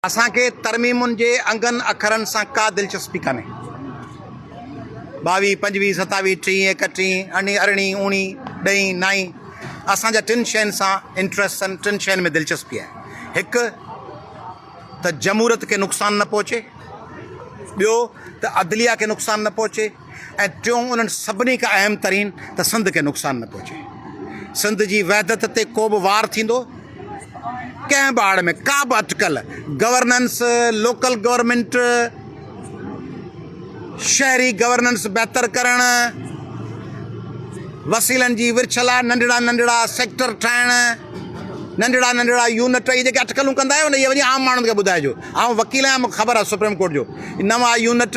اسان کي ترميمن جي انگن اکرن سان ڪا دلچسپي ڪانهي. ٻاويهه، پنجويهه، ستاويهه، ٽيهين، ايڪٽيهين، اڻي، ارڙهين، اوڻي، ڏهين، نائين، اسان جا ٽن شين سان انٽريسٽ سن، ٽن شين ۾ دلچسپي آهي. هڪ ته جمهورت کي نقصان نه پهچي، ٻيو ته عدليه کي نقصان نه پهچي. ۽ ٽيون انهن سڀني کان اهم ترين ته سنڌ کي نقصان نه پهچي. سنڌ جي وحدت تي ڪو به وار ٿيندو، ڪنهن به آڙ ۾ ڪا به اٽڪل، گورننس، لوڪل گورنمينٽ، شهري گورننس بهتر ڪرڻ، وسيلن جي ورڇ لاء ننڍڙا ننڍڙا سيڪٽر ٺاهڻ، ننڍڙا ننڍڙا يونٽ، اهي جيڪي اٽڪلون ڪندا آهيو نه اهي وڃي عام ماڻهن کي ٻڌائجو. آئون وڪيل آهيان مون کي خبر آهي سپريم ڪورٽ جو نوان يونٽ،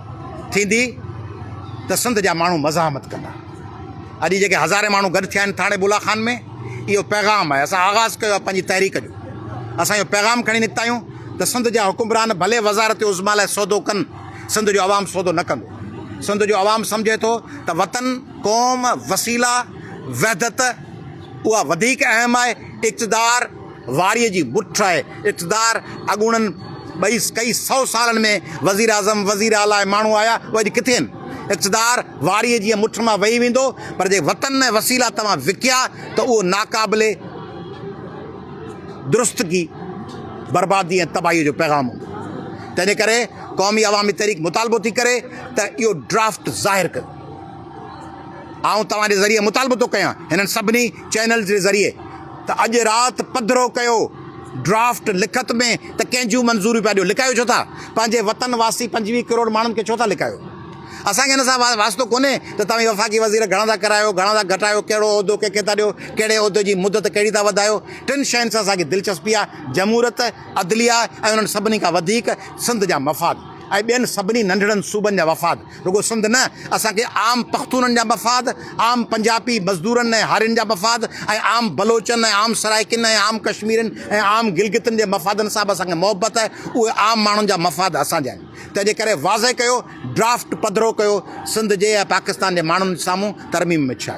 ٿيندي ته سنڌ جا ماڻهو مزاحمت ڪندا. اڄ جيڪي هزارين ماڻهو گڏ ٿيا آهن ٿاڻي بولا خان ۾ اهو پيغام آهي اسان آغاز ڪيو آهي پنهنجي تحريڪ جو اسان اهو پيغام کڻي نڪتا آهيون ته سنڌ جا حڪمران ڀلي وزارت عظميٰ لاء سودو ڪن سنڌ جو عوام سودو نه ڪندو سنڌ جو عوام سمجهي ٿو ته وطن قوم وسيلا وحدت اها وڌيڪ اهم آهي اقتدار واريء جي بٺ آهي. اقتدار اڳوڻن ٻئي ڪئي سئو سالن ۾ وزيراعظم، وزير اعليٰ ماڻهو آيا، اهي اڄ ڪٿي آهن؟ اقتدار واريء جيء مٺ مان وهي ويندو، پر جي وطن ۽ وسيلا توهان وڪيا ته اهو ناقابل درستگي، بربادي ۽ تباهيء جو پيغام هوندو. تنهنجي ڪري قومي عوامي تحريڪ مطالبو ٿي ڪري ته اهو ڊرافٽ ظاهر ڪيو. آئون توهان جي ذريعي مطالبو ٿو ڪيان، هنن سڀني چينلز جي ذريعي، ته اڄ رات پڌرو ڪيو ڊرافٽ لکت ۾ ته ڪنهن جون منظوريون پيا ڏيو لڪايو ڇو ٿا پنهنجي وطن واسي پنجويهه ڪروڙ ماڻهن کي ڇو ٿا لڪايو اسان کي ان سان واسطو ڪونهي ته توهين وفاقي وزير گهڻا ٿا ڪرايو گهڻا ٿا گهٽايو ڪهڙو عهدو ڪنهن کي ٿا ڏيو ڪهڙي عهدي جي مدت ڪهڙي ٿا وڌايو ٽن شين سان اسان کي دلچسپي آهي جمهوريت عدليه ۽ انهن سڀني کان وڌيڪ سنڌ جا مفاد ۽ ٻين سڀني ننڍڙن صوبن جا وفاد رڳو سنڌ نه، اسان کي عام پختونن جا مفاد، عام پنجاپي مزدورن ۽ هارين جا مفاد ۽ عام بلوچن ۽ عام سرائيڪين ۽ عام ڪشميرين ۽ عام گلگتن جي مفادن سان به اسان کي محبت آهي، اهي عام ماڻهن جا مفاد اسان جا آهن. تنهن جي ڪري واضح ڪيو، ڊرافٽ پڌرو ڪيو، سنڌ جي ۽ پاڪستان جي ماڻهن سامهون ترميم ۾ ڇا آهي؟